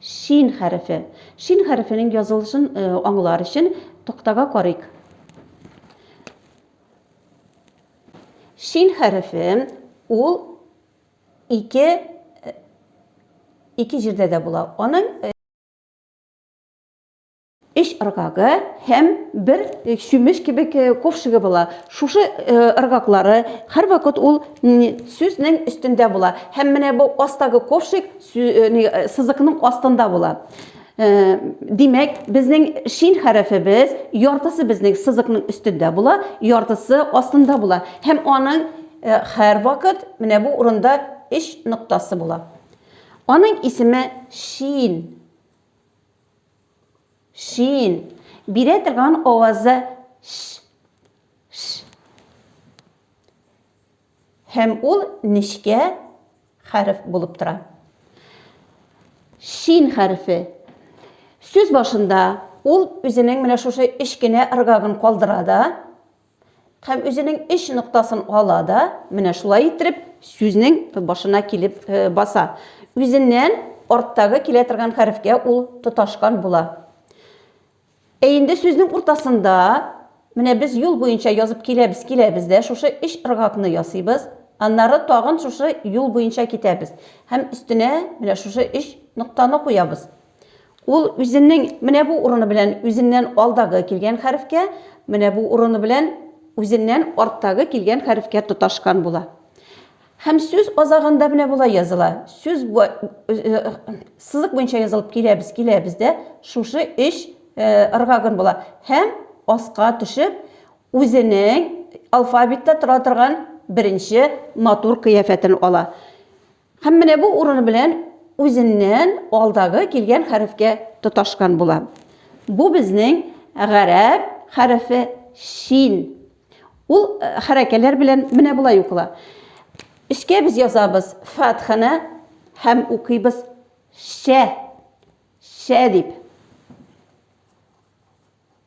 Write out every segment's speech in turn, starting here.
Шин хәрефе. Шин хәрефенең язылышын аңлар өчен тактага карыйк. Шин хәрефе ул ике ике җирдә дә була. Аның өч ыргагы һәм бер э, чүмеч кебек э, ковшыгы була. Шушы э, ыргаклары һәрвакыт ул сүзнең өстендә була. Һәм менә бу астагы ковшык сызыкның астында була. Димәк, безнең шин хәрефебез яртысы безнең сызыкның өстендә була, яртысы астында була. Һәм аның һәрвакыт менә бу урында өч ноктасы була. Аның исеме шин. Шин. Бирә торган авазы ш. Ш. Һәм ул нечкә хәреф булып тора. Шин хәрефе. Сүз башында ул үзенең менә шушы эчкенә ыргагын калдыра да, Һәм үзенең өч ноктасын ала да, менә шулай иттереп, сүзнең башына килеп э, баса. Үзеннән арттагы килә торган хәрефкә ул тоташкан була. Ә инде сүзнең уртасында менә без юл буенча язып киләбез, киләбез дә, шушы өч ыргакны ясыйбыз. Аннары тагын шушы юл буенча китәбез. Һәм өстенә менә шушы өч ноктаны куябыз. Ул үзенең менә бу урыны белән үзеннән алдагы килгән хәрефкә, менә бу урыны белән үзеннән арттагы килгән хәрефкә тоташкан була. Һәм сүз азагында менә болай языла. Сүз э, э, сызык буенча язылып киләбез, киләбез дә, шушы эш э, ыргагын була. Һәм аска төшеп, үзенең алфавитта тора торган беренче натур кыяфәтен ала. Һәм менә бу урыны белән үзеннән алдагы килгән хәрефкә тоташкан була. Бу безнең гарәп хәрефе шин. Ул хәрәкәләр белән менә болай укыла. Өскә без язабыз фатханы һәм укыйбыз шә. Шә дип.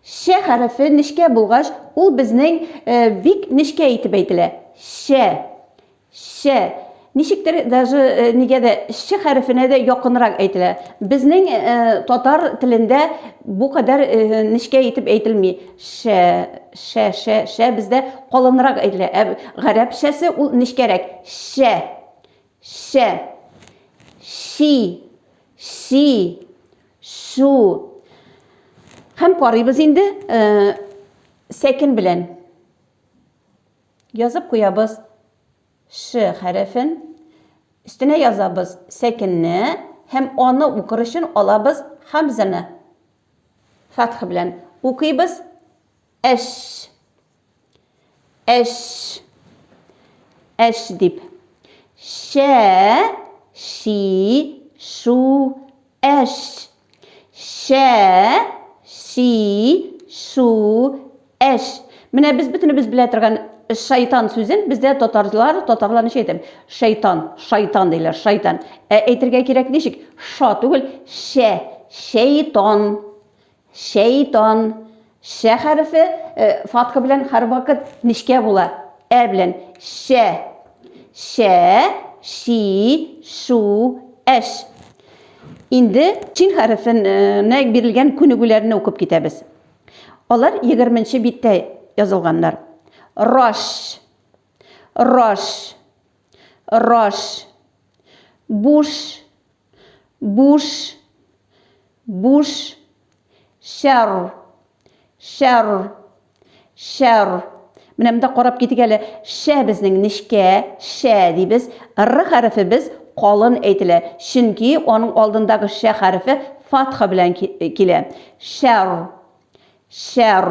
Шә хәрефе нечкә булгач, ул безнең бик нечкә итеп әйтелә. Шә. Шә. Ничектер даже нигә дә ш хәрефенә дә якынрак әйтелә. Безнең татар телендә бу кадәр нечкә итеп әйтелми. Шә, шә, шә, шә бездә калынрак әйтелә. Ә гарәпчәсе ул нечкәрәк. Шә. Шә. Ши. Ши. Су. Һәм карыйбыз инде э, сәкен белән. Язып куябыз ш хәрефен. Өстенә язабыз сәкенне һәм аны укыр өчен алабыз хамзаны. Фатх белән укыйбыз. Әш. Әш. Әш дип. Шә, ши, шу, әш. Шә, ши, шу, әш. Менә без бөтенебез белә торган шайтан сүзен бездә татарлар, татарлар ничек әйтә? Шайтан, шайтан диләр, шайтан. Ә әйтергә кирәк ничек? Ша түгел, шә, шәйтан. Шәйтан. Шә хәрефе фатха белән һәрвакыт нечкә була. Ә белән. Шә. Шә, ши, шу, әш. Инде чин хәрефенә бирелгән күнегүләрне укып китәбез. Алар 20 нче биттә язылганнар. Раш. Раш. Раш. Буш. буш буш шәр шәр шәр менә монда карап китик әле шә безнең нечкә шә дибез р хәрефе без калын әйтелә чөнки аның алдындагы шә хәрефе фатха белән килә шәр шәр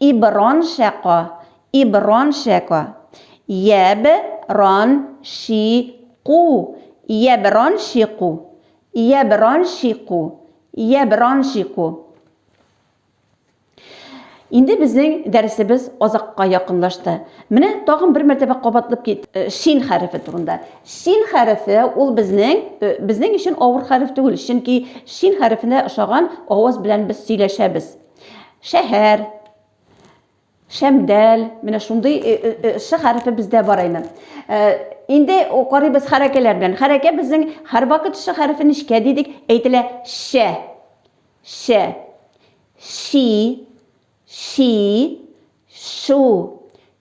Иброн шәко, иброн шәко. Йәб рон ши ку, йәб рон ши ку. Йәб рон ши ку, йәб рон ши ку. Инде безнең дәресебез азакка якынлашты. Менә тагын бер мәртәбә кабатлап кит, э, шин хәрефе турында. Шин хәрефе ул безнең, э, безнең өчен авыр хәреф түгел, чөнки шин хәрефенә ошаган аваз белән без сөйләшәбез. Шәһәр, шәмдәл, менә шундый э, э, э, шы хәрефе бездә бар инде. Инде карыйбыз хәрәкәләр белән. Хәрәкә безнең һәрвакыт шы хәрефе нечкә дидек, әйтелә шә. Шә. Ши. Ши. Су.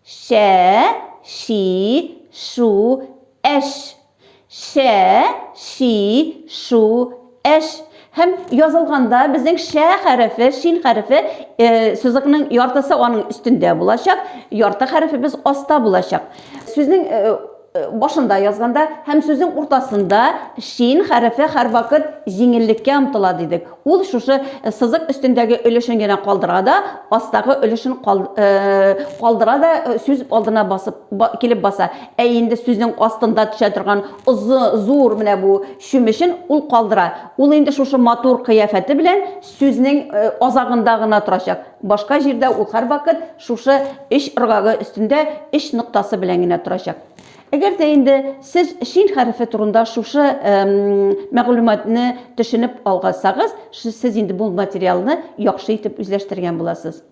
Сә, си, су, әс. Сә, си, су, әс. Һәм язылганда безнең шә хәрефе, шин хәрефе э, сузыкның яртысы аның өстендә булачак, ярты хәрефебез аста булачак. Сүзнең э, Э, башында язганда һәм сүзнең уртасында шин хәрефе һәрвакыт җиңеллеккә омтыла дидек. Ул шушы э, сызык өстендәге өлешен генә калдыра да, астагы өлешен э, калдыра да сүз алдына басып килеп баса. Ә инде сүзнең астында төшә торган озы, зур менә бу чүмешен ул калдыра. Ул инде шушы матур кыяфәте белән сүзнең азагында гына торачак. Башка җирдә ул һәрвакыт шушы өч ыргагы өстендә өч ноктасы белән генә торачак. Әгәр дә инде сез шин хәрефе турында шушы мәгълүматны төшенеп алгансагыз, сез инде бу материалны яхшы итеп үзләштергән буласыз.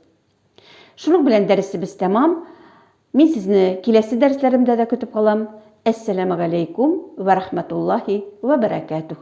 Шуның белән дәресебез тәмам. Мин сезне киләсе дәресләремдә дә көтеп калам. Әссәламәгаләйкүм вә рахмәтуллаһи вә бәрәкәтүһ.